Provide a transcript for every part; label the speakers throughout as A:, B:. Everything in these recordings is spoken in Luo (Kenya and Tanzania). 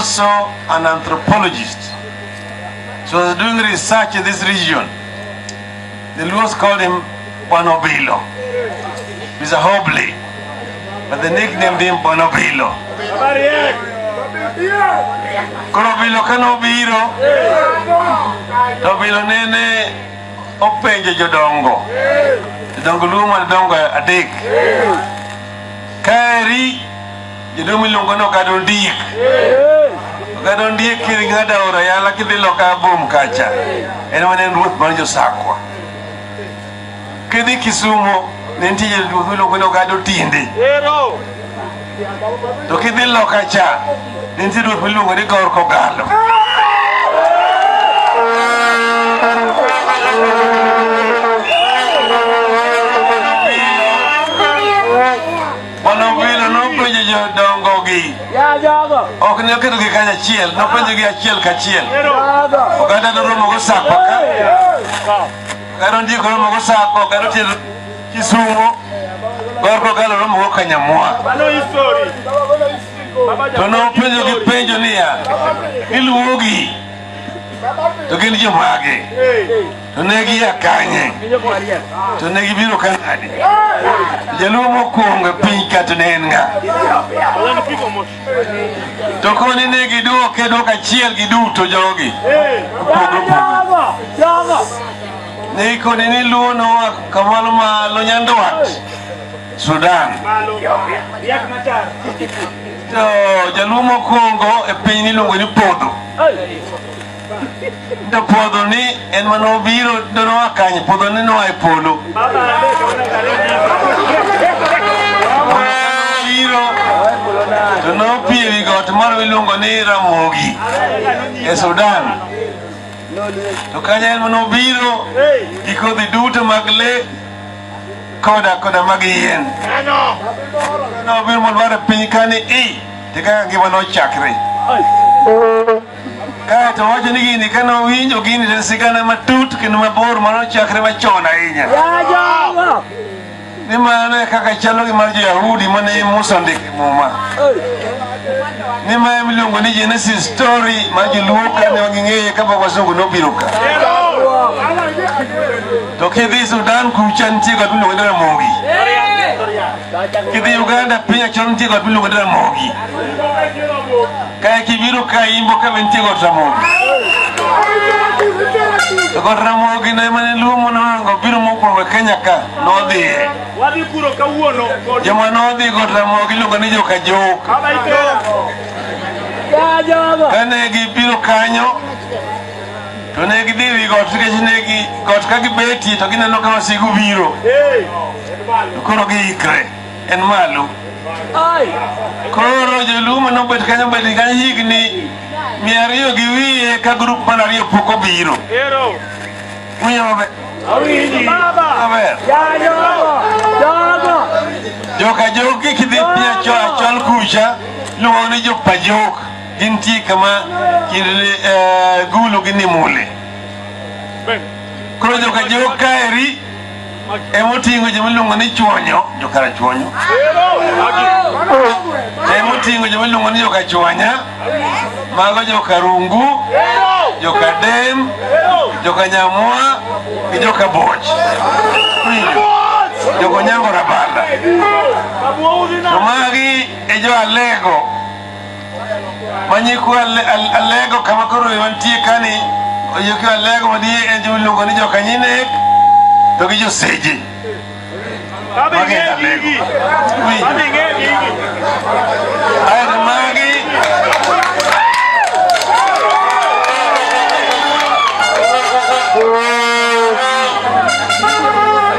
A: also an anthropologist. So I was doing research in this region. The Luos called him Bonobilo. He's a hobbly, but they nicknamed him Bonobilo. Koro bilo ka nobiro, to bilo nene openjo jodongo. Jodongo luo mana dongo adek. Kaeri Jaduong' miluongo ni Ogada Ondiek. Ogada Ondiek kiri ng'ada aora yala kidhi loka abom kacha. En ema ne en ruoth mar Josakwa. Kidhi Kisumo ne nitie jaduong' miluongo ni Ogada Otiende. To kidhi loka cha ne nitie ruoth miluongo ni Gor Kogalo. Mano vile nopenjo jodongogi. Ok ne oketogi kanyachiel, nopenjogi achiel kachiel. Oganda noromo gosako ka. Karo ndiko romo gosako, karo tiel Kisumo, kor kokalo romo go Kanyamwa. To nopenjogi penjo niya, iluwogi to gin jomage? to ne gia kanye to ne gibiro ka nadi jaluo mokwongo e piny ka to ne en ng'a to koni ne gidwoke dwoko achiel giduto jogi opogre opogre ne ikoni ni luo noa kamalo malo nyandwat sudan to jaluo mokwongo e piny niluongo ni podho to puodho ni en mana obiro donoa kanye puodho ni noa e polo obiro to nopie wi got moro miluongo ni ramogi e sudan to kanye en mana obiro gi kodhi duto mag le koda koda mag yien nobiro mondo ware piny kani i te kaka ngima nochakre Kae to wacho ni gini kane owinjo gini to en sigana matut kendo mabor mano chakre machon ahinya. Ni mano e kaka chalo gi mar jo-Yahudi mane Musa ondiko e Muma. Ni ma ema iluongo ni Genesis story ma joluo ka ne ging'eye ka pok wasungu nobiro ka. To kidhi Sudan kucha nitie got miluongo ni Ramogi. Kidhi Uganda piny achon nitie got miluongo ni Ramogi. Kae kibiro ka imbo ka bentie got ramogi. To got ramogi ne mane luo monohango biro mokwongo e Kenya ka nodhiye. Wadhi puro kawuono kod Joma nodhi got ramogi iluongo ni joka jok. kama ikera. Kane gibiro kanyo to ne gidhi wi got nikech ne gi got ka gibetie to gineno ka wasigu biro. Hey, To koro giikre. en malo koro joluo mane obet kanyo obet kanyo higni mia ariyo gi wiye ka grup mar ariyo pok obiro winjo maber maber joka joki kidhi pia cho achol kucha luongo ni jopa jok gintie kama kind eh, gulu gi nimule koro joka jok kaeri emoting'o joma iluongo ni chuonyo jokara chuonyo emoting'o joma iluongo ni joka chuanya mago joka rungu joka dem joka nyamwa gi joka boch Winjo? joka onyango rabanda to magi e jo alego manyikwa alego kama koro wantie kani oyuki alego madiye en joma iluongo ni jokanyinek to gi joseje magi en alego aeto magi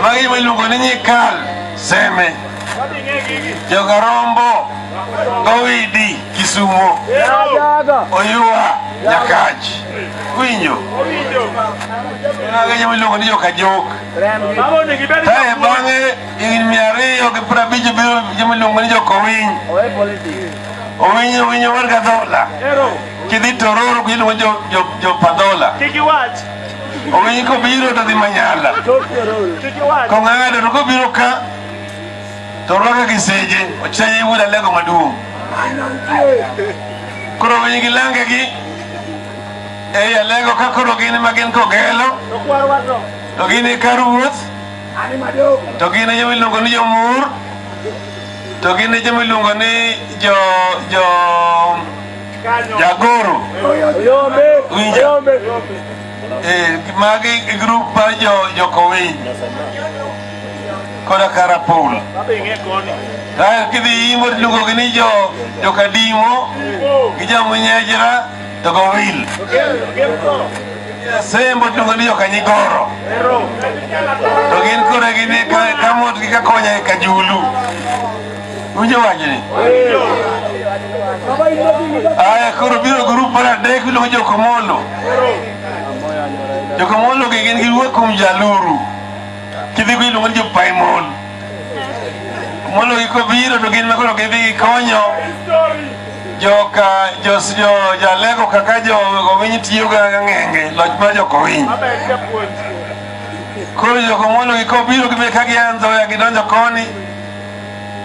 A: magi joma iluongo ni nyikal seme jogarombo Owidi Kisumo, Oyua Nyakach, winjo agenyo miluongo ni Jokajok. Kae bang'e higni mia ariyo gi piero abich biro joma iluongo ni Jokowiny. Owinyo winyo mar Gadhola. Kidhi Tororo iluongo ni jo- jo- Jopadhola. Owinyo kobiro to dhi Manyala. Kong'ado to kobiro ka to orwake gi seje ochanye gi wuod alengo maduong' koro winy gi lange gi ei alengo ka koro gin ma gin kogelo to gin e kar wuoth to gin e joma iluongo ni jomur to gin e joma iluongo ni jo jo jagoro winja eh, magi e grup mar jo jokowiny koda ka rapul kae kidhi yimo tiluongogi ni jo jokadimo gi jamunyejra to gowil sembo tiluongo ni jokanyigoro to gin kore gini kamot gi kakonya e kajulu winjo wachni aya koro biro grup mar adek iluongo jokomolo jokomolo gi gin giwuok kuom jaluru Ci dhi iluongo ni jopaimon. Mondo giko biro to gin makoro gidhi konyo joka jos jo jalego kaka jo kowiny tiyo ga ng'enge loch mar jo kowiny. Koro joko mondo giko biro gibe ka gianzo ya gidonjo koni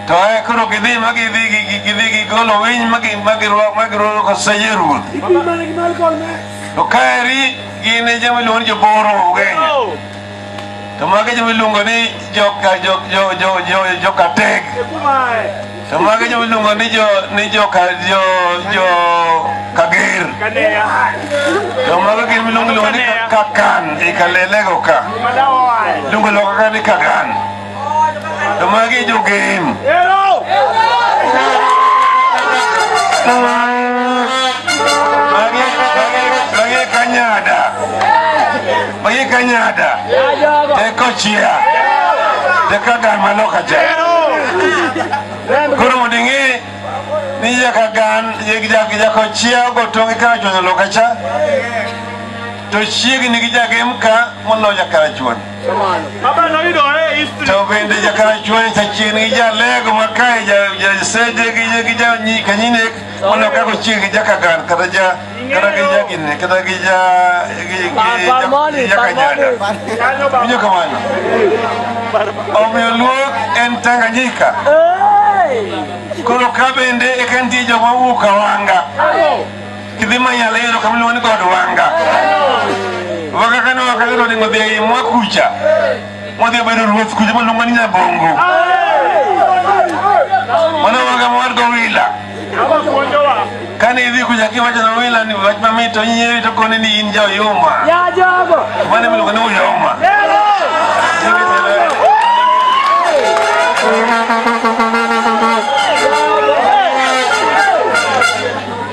A: to e koro gidhi ma gidhi gi- gi- gidhi gigolo winy ma gi- ma girwa- ma girwako koseje ruoth. To kaeri gin e joma iluongo ni joboro Ugenya. to mago joma iluongo ni joka jo jo jo jo joka teg to mago joma iluongo ni jo ni joka jo jo kager to mago gin miluongo iluongo ni kakan ikalelego ka iluongo loka ka ni kagan To magi jogem. Magi magi kanyada. Magi kanyada. Teko chia. Teko dama loka cha. Koro mondo ing'e ni nyaka gan jako chia ogotongi kaka chwonyo loka cha to chiegni gi jagem ka moloyo jakarachuon. to bende jakarachuonyo chachien gi jalego makae jaseje gi janyikanyinek mondo kako chieng gi jakagan kata ja kata gi jagine kata gi ja jakanyaga winjo kamano omiyo luok en tanganyika koro ka bende eka nitie joma wuok awanga kidhi manya lero kama iluongo ni god wanga wanga kane wakalero onego odhi ei mwa kucha modhi obedo ruoth kucha moluongo ni nyabongo mano wanga mowar gowila kane idhi kucha kiwacho na wila ni wach mamit to nyieri to koni ni in jaoyuma mane miluongo ni uyoma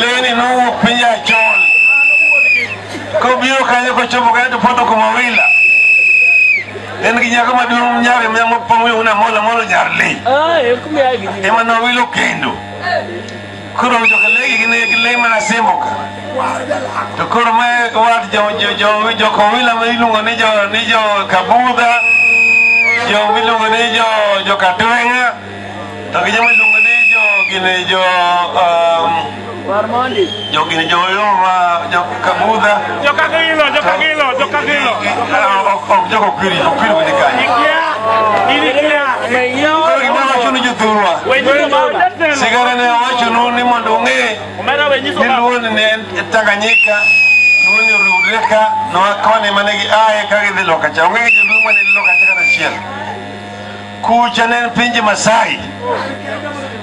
A: Leni nowuok piny Achol kobiro kanyo kochopo kanyo to poto kuma wila en gi nyako maduong' nyar mapong'oyona mola molo nyar le ema nowilo kendo koro joka legi gin gi le mana sembo ka to koro ma wat jo- jo- jo- jokowila ma iluongo ni jo- ni jo kabudha jo miluongo ni jo- jokatweng'a To gi joma iluongo ni jo gini jo um, jo gini jo Yoma, jo Kabudha. Jo Kagilo, jo
B: Kagilo, jo Kagilo. Ah,
A: ok- ok jo Kokiri, Kokiri bende kanyo. Ikia, inikia. Koro gima wacho ni jothurwa. Wenyiso baba. Sigara ne awachonu ni mondo ung'e Omera wenyiso ni baba. Luoni ne en Tanganyika, Luoni oriwre ka, ne wakoni mane gi aye ka gidhi loka cha. Onge gi joluo mane loka cha kata achiel. Kucha ne en pinje Masai.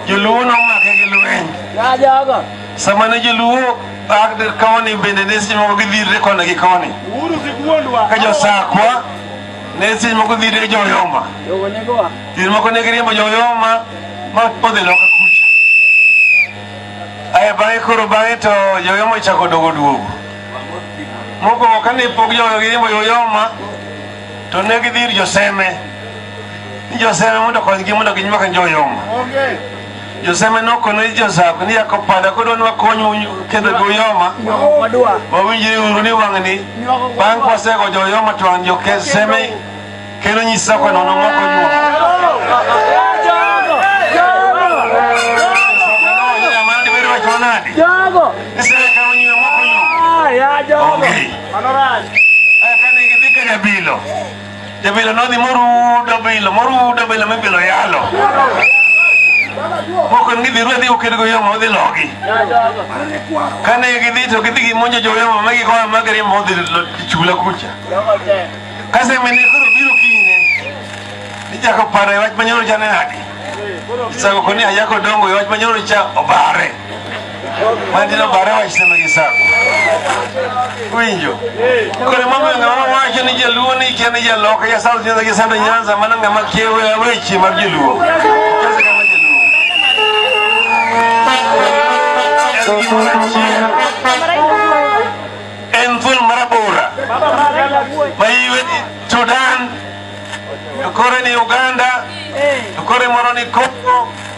A: Joluo nomake gi lweny. Ya jaga. Sama ne joluo ak dir koni bende ne seche moko gidhirre koni gi koni. Uhuru sikuondwa. Ka josakwa ne seche moko dhirre joyoma. Yogo nego wa. Seche moko ne giriembo joyoma ma odhi loka kucha. Aya bang'e koro bang'e to joyoma ochako dogo duogo. Mokwongo kane pok joyoma giriembo joyoma to ne gidhi ir joseme ni joseme mondo okonygi mondo ginywak njoyom joseme nokono ni josako ni yako pada kodwa ni wakonyu kendo goyoma wawinjre uru ni wang'ni bang' kwasego joyoma to wang' joseme kendo nyisa kwano nomoko
B: nyuomo
A: Mano rach. Eh, kane gidhi ka jabilo jabilo nodhi morudo bilo morudo bilo mibilo yalo mokon gidhi ruwe dhi oked go yomo odhi logi kane gidhi to gidhi gimonjo joyomo ma gikoa ma giriembo odhi lo- chula kucha kasemene koro biro kinyne nichako paro e wach manyoro cha ne nadi isago koni ayako dongo e wach manyoro cha obare Mandino bare wachne ma gisago. Winjo. Kore mama ne wacho ni jaluo ni kia ni jaloka ya South Nyanza gi Central Nyanza mana ng'ama kiewe ya weche mar jaluo. Kasa kama jaluo. En gimoro achiel. En thuol marabora. Ma iwe ni Sudan. Kore ni Uganda. Kore moro ni Congo.